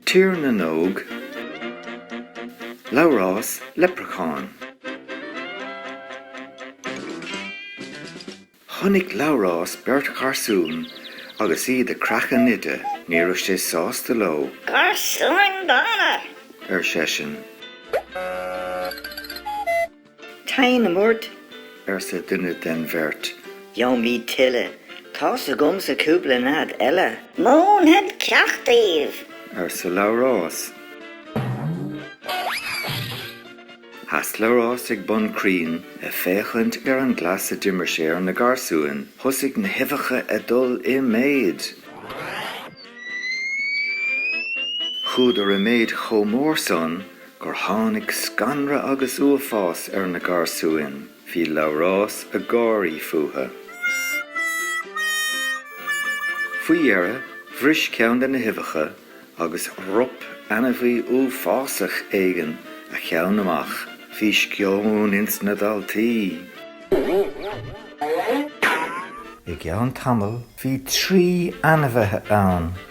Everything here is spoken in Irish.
Tír na nÓg, Labhrás Leipreachán. Chonaic Labhrás beirt gharsún agus iad ag creachadh nide. Ní raibh sé sásta leo. Garsúin dána! ar seisean. Téanam ort, arsa duine de'n bheirt. Gheobhaimid tuilleadh. Tá's agamsa cúpla nead eile. Múinfead ceacht daoibh. arsa Labhrás. Sheas Labhrás ag bun crainn a' féachaint ar an gcleas a d'imir sé ar na garsúin. Thosaigh na huibheacha a' dul i méid. Chuadar i méid chomh mór san gur tháinig scanradh agus uafás ar na garsúin, bhí Labhrás ag gáirí fúthu. Faoi dheireadh, bhris ceann de na huibheacha agus rop ainmhí uafásach éigin a cheann amach. Bhí sceoin ins na daltaí. I gceann tamaill, bhí trí ainmhithe ann